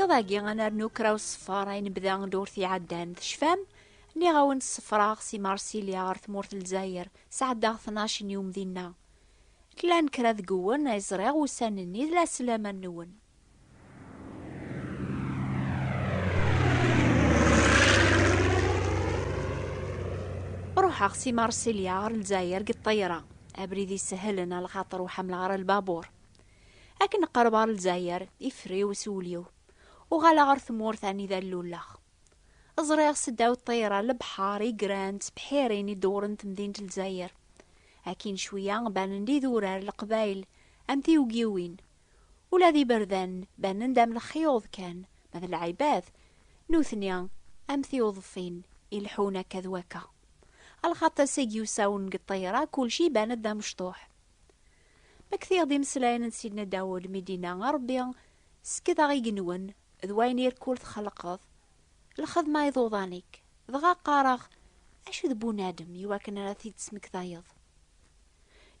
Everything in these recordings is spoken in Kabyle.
Iḍ-agi ad nernu kra n uṣeffer ay nebda ddurt iɛeddan. Tecfam? Nniɣ-awen ṣeffreɣ si Marsilya ɣer tmurt n Lezzayer, sɛeddaɣ tnac n yum dinna. Llan kra deg uwen ay ẓriɣ ussan-nni d laslaman-nwen. Ruḥeɣ si Marsilya ɣer Lezzayer deg ṭṭayra. Abrid isehhlen a lxaṭer ur ḥemmleɣ ara lbabuṛ. Akken qerbeɣ ar Lezzayer, iffer-iw s wul-iw, uɣaleɣ ar tmurt anida lluleɣ. Ẓriɣ seddaw ṭṭir-a lebḥer igran d tebḥirin i dewren temdint Lezzayer. Akkin cwiya banen-d idurar, leqbayel, am tiwgiwin. Ula d iberdan banen-d am lexyuḍ kan, ma d lɛibad, nutni am tiwḍfin ileḥḥun akka d wakka. Alxaṭ ass-agi usawen deg ṭṭir-a kulci iban-d d amecṭuḥ. Ma ktiɣ d imeslayen n Sidna Dawed mi d-inna a Rebbi skedeɣ igenwen d wayen irkul txelqeḍ, lxedma iḍuḍan-ik, dɣa qqareɣ acu d bunadem i wakken ara t-id-tesmektayeḍ?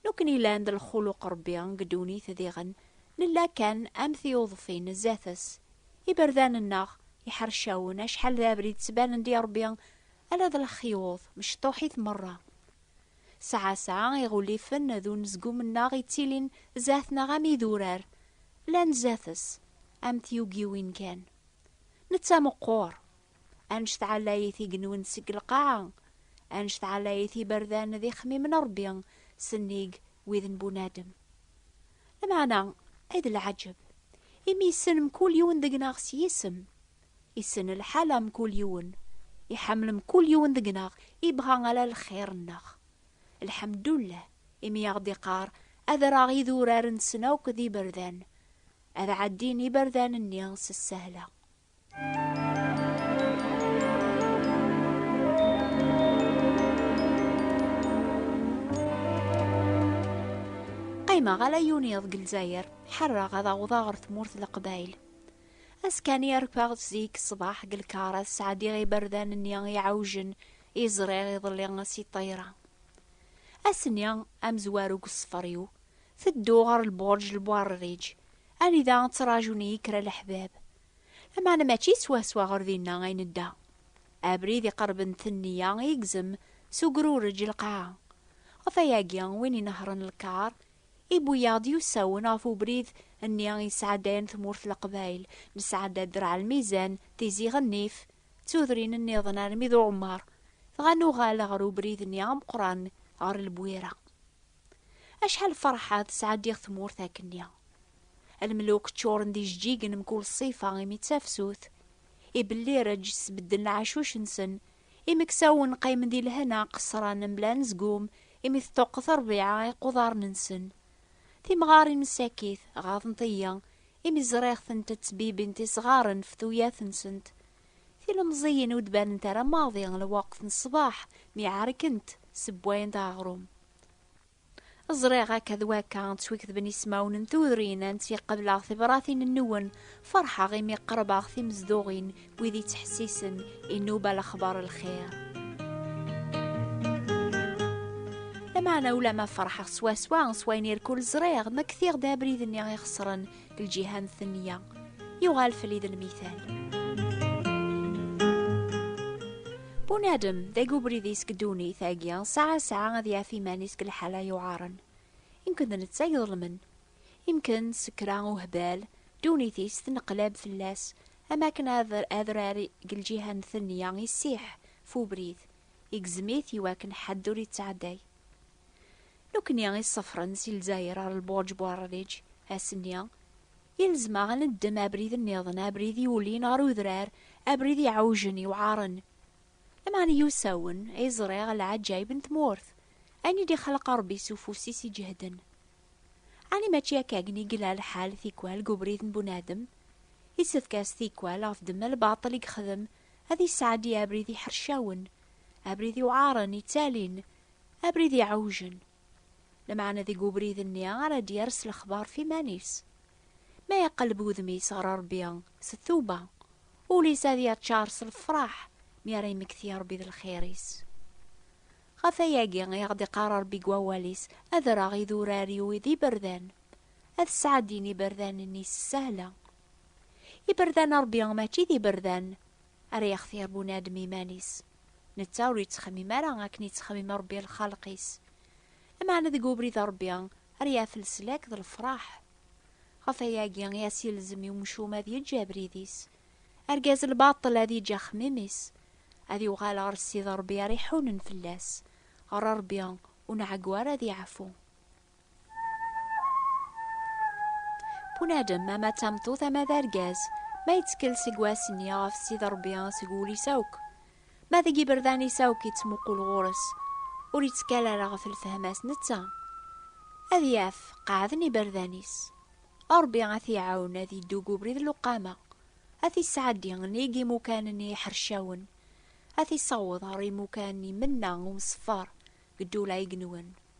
Nukni llan d lxuluq Rebbi deg ddunit diɣen nella kan am tiyuḍfin zdat-s, iberdan-nneɣ iḥercawen acḥal d abrid ttbanen-d i Rebbi ala d lexyuḍ, mecṭuḥit merra. Sɛasɛa iɣulifen d unezgum-nneɣ ittilin zdat-neɣ am idurar, llan zdat-s am tyugiwin kan. Netta meqqur. Anect ɛlayit i genwen seg lqaɛa, anect ɛlayit iberdan d ixemmimen n Rebbi sennig wid n bunadem. Lameɛna, ay d lɛaǧeb, imi yessen mkul yiwen deg-neɣ s yisem, Issen lḥal a mkul yiwen. Iḥemmel mkul yiwen deg-neɣ, ibɣa ala lxir-nneɣ. Lḥemdullah, imi aɣ-d-iqqar, Ad rreɣ idurar-nsen akk d iberdan. Ad ɛeddin iberdan-nni s ssehla. Qqimeɣ ala yiwen yiḍ deg Lezzayer, ḥerreɣ ad awḍeɣ ɣer tmurt n Leqbayel. Askani rfeɣ-d zik ṣṣbeḥ deg lkar ad sɛeddiɣ iberdan-nni iɛewjen i ẓriɣ iḍelli si ṭṭayra. Ass-nni, amezwaru deg ṣṣfer-iw, tedduɣ ɣer lburǧ lbuɛrriǧ, anida ttraǧun-iyi kra leḥbab. Lameɛna mačči swaswa ɣer dinna ay nedda. Abrid iqerben tenniya igzem s ugrureǧ lqaɛa. Ɣef wayagi, win inehhṛen lkar I wwiɣ-d yusawen ɣef ubrid nni i yesɛadayen tmurt leqbayel, nesɛada ddreɛ lmizan, tizi ɣennif, d tudrin nniḍen armi d uɛumar, dɣa nuɣal ɣer ubrid nni ameqqran ɣer Lbwira. Acḥal ferḥeɣ tesɛaddiɣ tmurt akkenni. Lmeluk ččuren d ijeǧǧigen mkul ṣṣifa imi d tafsut. Ibellireǧ sbedden lɛacuc-nsen Imeksawen qqimen di lehna qeṣṣran mebla anezgum imi teṭṭuqqet ṛbiɛa iquḍaren-nsen. Timɣarin n Sakit ɣaḍent-iyi imi ẓriɣ-tent ttbibint isɣaren ɣef tuyat-nsent. Tilemẓiyin ur d-banent ara maḍi lweqt n ṣṣbeḥ mi ɛerkent ssewwayent aɣrum. Ẓriɣ akka d wakka ttwiketben ismawen n tudrin ansi qebleɣ tibratin-nwen, ferḥeɣ imi qerbeɣ timezduɣin, wid yettḥessisen, inuba lexbar lxir. Lameɛna ulamma ferḥeɣ swaswa s wayen irkul ẓriɣ ma ktiɣ-d abrid-nni ixeṣren, lǧiha n tenya yuɣal fell-i d lmital bunadem d agubrid-is deg ddunit agi saɛa saɛa ad yaf iman-is deg lḥala yuɛaren imken d netta iḍelmen imken d sekra uhbal ddunit-is tenqlab fell-as am akken adrar deg lǧiha n tenya issiḥ f ubrid igzem-it iwakken ḥedd ur yettɛedday Nekkni i ṣefren si Lezzayer ɣer Lbuṛǧ Buɛerriǧ ass-nni, yelzem-aɣ ad neddem abrid nniḍen, abrid yulin ɣer udrar, abrid iɛewjen, yewɛaṛen. Lameɛna iwsawen ay ẓriɣ lɛaǧayeb n tmurt, ayen i d-ixleq Ṛebbi s ufus-is iǧehden. Ɛni mačči akkagen i yella lḥal tikwal deg ubrid n bunadem? Yessefk-as tikwal ɣef ddemma n lbaṭel i yexdem ad yesɛeddi abrid iḥercawen, abrid iwɛaṛen, ittalin, Abrid iɛewjen. Lameɛna deg ubrid-nni ara d-yers lexbar f iman-is. Ma iqelleb udem-is ɣer Rebbi s tuba, ul-is ad yaččar s lefraḥ mi ara yemmekti Rebbi d lxir-is. Ɣef wayagi i aɣ-d-iqqar Rebbi deg wawal-is, Ad rreɣ idurar-iw d iberdan, ad sɛeddin iberdan-nni s ssehla. Iberdan n Rebbi mačči d iberdan Ara yextir bunadem iman-is, netta ur yettxemmim ara akken yettxemmim Ṛebbi lxalq-is. Lameɛna deg ubrid n Ṛebbi ara yaf leslak d lefṛaḥ. Ɣef wayagi i as-yelzem i umcum ad yeǧǧ abrid-is, argaz n lbaṭel ad yeǧǧ axemmim-is, ad yuɣal ɣer Ssid Ṛebbi ara iḥunen fell-as, ɣer Ṛebbi ur nɛeggu ara ad yeɛfu. Bunadem ama d tameṭṭut ama d argaz, ma yettkel seg wass-nni ɣef Sidi Ṛebbi seg wul-is akk, ma deg iberdan-is akk yettmuqul ɣur-s, ur yettkal ara ɣef lfehma-s netta. Ad yaf qeɛden iberdan-is. Ṛebbi ad t-iɛawen ad yeddu deg ubrid n lewqama, ad t-isɛeddi nnig imukan-nni iḥercawen, ad t-issaweḍ ɣer imukan imenna umṣeffer deg ddula igenwen.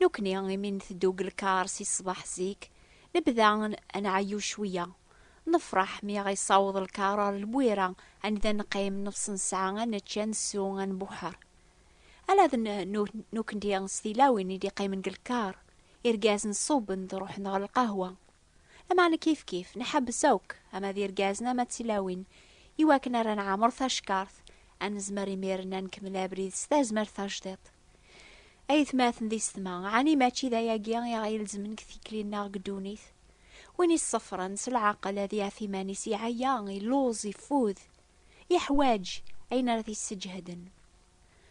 Nekkni imi nteddu deg lkar si ṣṣbeḥ zik, nebda ad nɛeyyu cwiya. Nefreḥ mi aɣ-yessaweḍ lkar ɣer Lwira anida neqqim, neɣs nesɛa ad nečč, ad nsew, ad nbuḥer. Ala d nekkni s tilawin i d-iqqimen deg lkar, irgazen ṣṣuben-d ruḥen ɣer lqahwa. Lameɛna kifkif, nḥebbes akk, ama d irgazen ama d tilawin, iwakken ara nɛemmer tackart, ad nezmer imiren ad nkemmel abrid s tazmert tajdiṭ. Ayetmaten d isetma, ɛni mačči d ayagi i aɣ-ilezmen deg tikli-nneɣ deg ddunit? Win iṣeffren s leɛqel ad iɛef iman-is iɛya, illuẓ, iffud, yeḥwaǧ ayen ara t-yesseǧheden.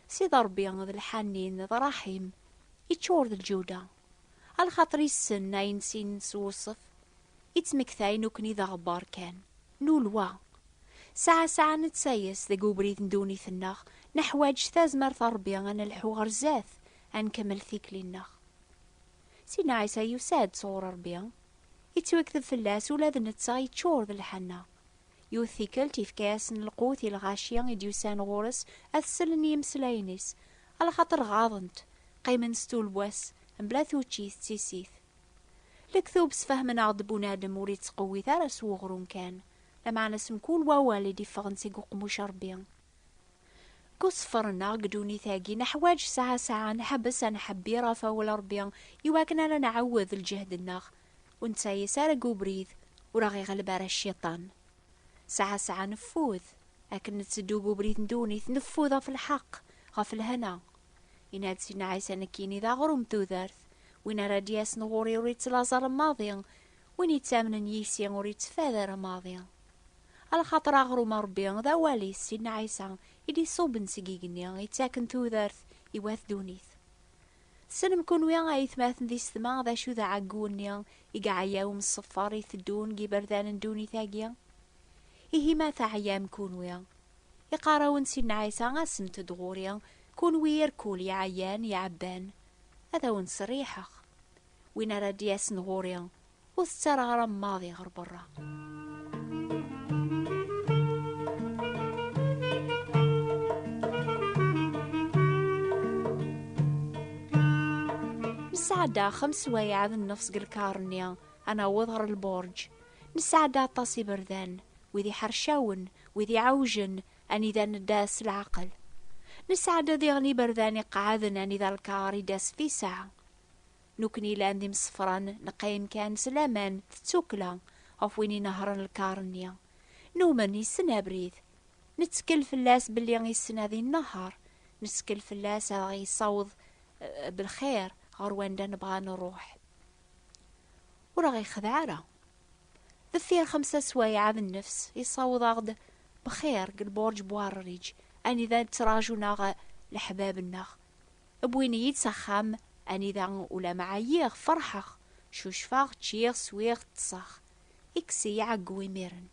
Sidi Ṛebbi d lḥanin, d ṛṛaḥim, iččur d lǧuda. A lxaṭer issen ayen sin s wuṣef i ttmektayen nekkni d aɣebbar kan, nulwa. Sɛa sɛa nettayes deg ubrid n ddunit-nneɣ, neḥwaǧ s tazmert n Ṛebbi ad nelḥu ɣer zdat, ad nkemmel tikli-nneɣ. Sidna Ɛisa yusa-d sɣur Ṛebbi, ittwekteb fell-as ula d netta yeččur d lḥenna, Yiwet tikkelt, ifka-yasen lqut i lɣaci i d-yusan ɣur-s ad t-sellen i yimeslayen-is, alaxaṭer ɣaḍen-t, qqimen stul wass, mebla tuččit d tissit. Lektub sfehmen-aɣ-d bunadem ur ittqewwit ara s weɣrum kan, lameɛna s mkul wawal i d-iffɣen seg uqemmuc n Rebbi. Deg uṣeffer-nneɣ deg ddunit-agi, neḥwaǧ sɛa sɛa ad nḥebbes ad nḥebbir ɣef Awal n Rebbi iwakken ara nɛawed lǧehd-nneɣ, ur nettɛeyis ara deg ubrid, ur aɣ-iɣleb ara cciṭan. Sɛa sɛa neffud, akken netteddu deg ubrid n ddunit, neffud ɣef lḥeqq, ɣef lehna. Yenna-d Sidna Ɛisa, Nekkini d aɣrum n tudert, win ara d-yasen ɣur-i ur yettlaẓ ara maḍi, win yettamnen yis-i ur yettfad ara maḍi. A lxaṭer aɣrum n Ṛebbi, d awal-is, Sidna Ɛisa, i d-iṣubben seg igenni, yettaken tudert i wat ddunit. Tessnem kunwi a aytmaten d isetma d acu d aɛeggu-nni i iɛeyau mseffer i teddun deg yiberdan n ddunit-agi? Ihi ma teɛyam kunwi, iqarrawen n Sidna Ɛisa asemt-d ɣur-i, kunwi irkul iɛeyyan, iɛebban, ad awen-ttserriḥeɣ. Win ara d-yasen ɣur-i, Ur tettaraɣram maḍi ɣer berra. Nesɛedda xems wayeɛad n nnefs deg lkar-nni ad naweḍ ɣer lburǧ. Nesɛedda aṭas iberdan, wid iḥercawen, wid iɛewjen, anida nedda s leɛqel. Nesɛedda diɣen iberdan iqeɛɛden anida lkar idda s tiseɛ. Nukni llan d imsefran, neqqim kan s laman d tsukkla ɣef win inehhṛen lkar-nni. Numen yessen abrid. Nettkel fell-as belli yessen ad inehheṛ. Nettkel fell-as ad aɣ-yessaweḍ belxir ɣer wanda nebɣa ad nṛuḥ. Ur aɣ-yexdeɛ ara. Deffir xemsa swayɛa d nnefs, yessaweḍ-aɣ-d bxir deg lbuṛǧ Buɛerriǧ, anida ttraǧun-aɣ leḥbab-nneɣ. Wwin-iyi-d s axxam, anida ulamma ɛyiɣ, ferḥeɣ, cucfeɣ, ččiɣ, swiɣ, ṭṭseɣ. Ikkes-iyi ɛeggu imiren.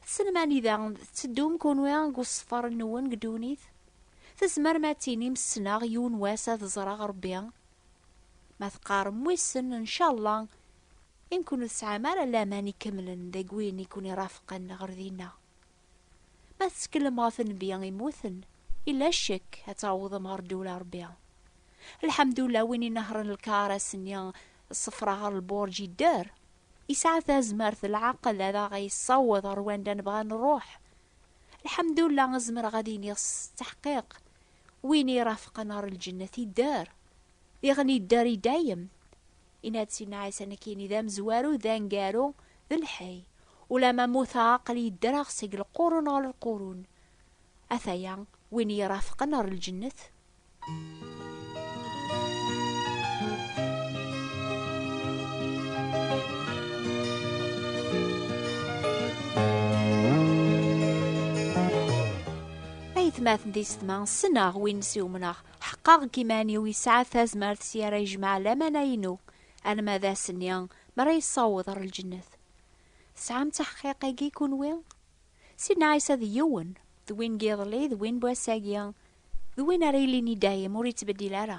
Tessnem anida tetteddum kunwi deg uṣeffer-nwen deg ddunit? Tzemrem ad tinim ssneɣ yiwen wass ad ẓreɣ Rebbi? Ma teqqarem wissen, ncallah, i nekkun ur tesɛam ara laman ikemlen deg win i ken-irafqen ɣer dinna. Ma tetteklem ɣef nnbi immuten, ila ccek ad tawḍem ɣer ddula Rebbi. Lḥemdullah win inehren lkar ass-nni ṣṣefra ɣer lburǧ yedder. Yesɛa tazmert d lɛaqel ad aɣ-yessaweḍ ɣer wanda nebɣa ad nruḥ. Lḥemdullah zemreɣ ad iniɣ s teḥqiq, win irafqen ɣer lǧennet yedder. Diɣen yedder i dayem. Yenna-d Sidna Ɛisa nekkini d amezwaru, d aneggaru, d lḥay. Ulamma mmuteɣ aql-i ddreɣ seg lqurun ɣer lqurun. Ataya win iyi-irafqen ɣer lǧennet. Aytmaten d yessetma, ssneɣ win s i umneɣ. Ḥeqqeɣ deg yiman-iw yesɛa tazmert s yara yejmeɛ lamana-inu, alma d ass-nni mara yessaweḍ ɣer lǧennet. Tesɛam taḥqiq-agi kunwi? Sidna Ɛisa d yiwen, d win n yiḍelli, d win n wass-agi, d win ara yilin i dayem, ur yettbeddil ara.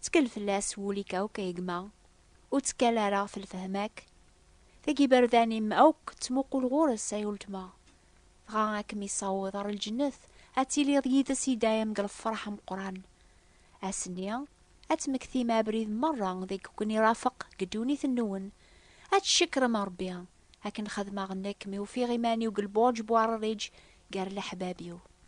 Ttkel fell-as s wul-ik akk, ay gma, ur ttekkal ara ɣef lfehma-k. Tagi iberdan-im akk ttmuqul ɣur-s, ay uletma. dɣa ad kem-issaweḍ ɣer lǧennet, ad tiliḍ yid-s i dayem deg lefreḥ ameqqran. Ass-nni, ad tmektim abrid merra deg ken-irafeq deg ddunit-nwen, ad tcekkrem Ṛebbi, akken xedmeɣ nekk mi ufiɣ iman-iw deg lbuṛǧ bu aṛriǧ gar leḥbab-iw.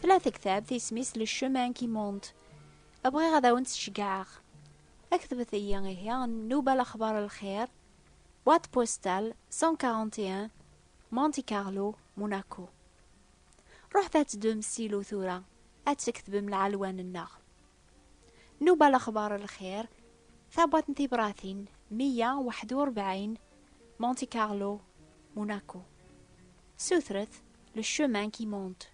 Tella tektabt isem-is Le Chemin qui monte. Bɣiɣ ad awen-tt-ceggɛeɣ. Aktbet-iyi ihi nnuba lexbar lxir, boîte postale 141 Monte Carlo, Monaco. Ruḥet ad teddum s ilu tura, ad tkektbem lɛelwan-nneɣ. Nnuba lexbar lxir, tabwaṭ n tibratin 141 Monte Carlo, Monaco. Sutret Le chemin qui monte.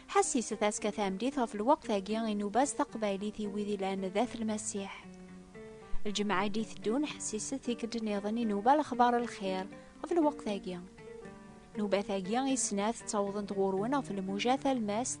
Ḥesset aska tamlit ɣef lweqt-agi i nuba s taqbaylit i wid ilan d at lmasiḥ. Lǧemɛa i d-iteddun ḥesset tikkelt-nniḍen i nuba lexbar lxir ɣef lweqt-agi. Nubat-agi i snat ttawḍent ɣur-wen ɣef lmuja talmast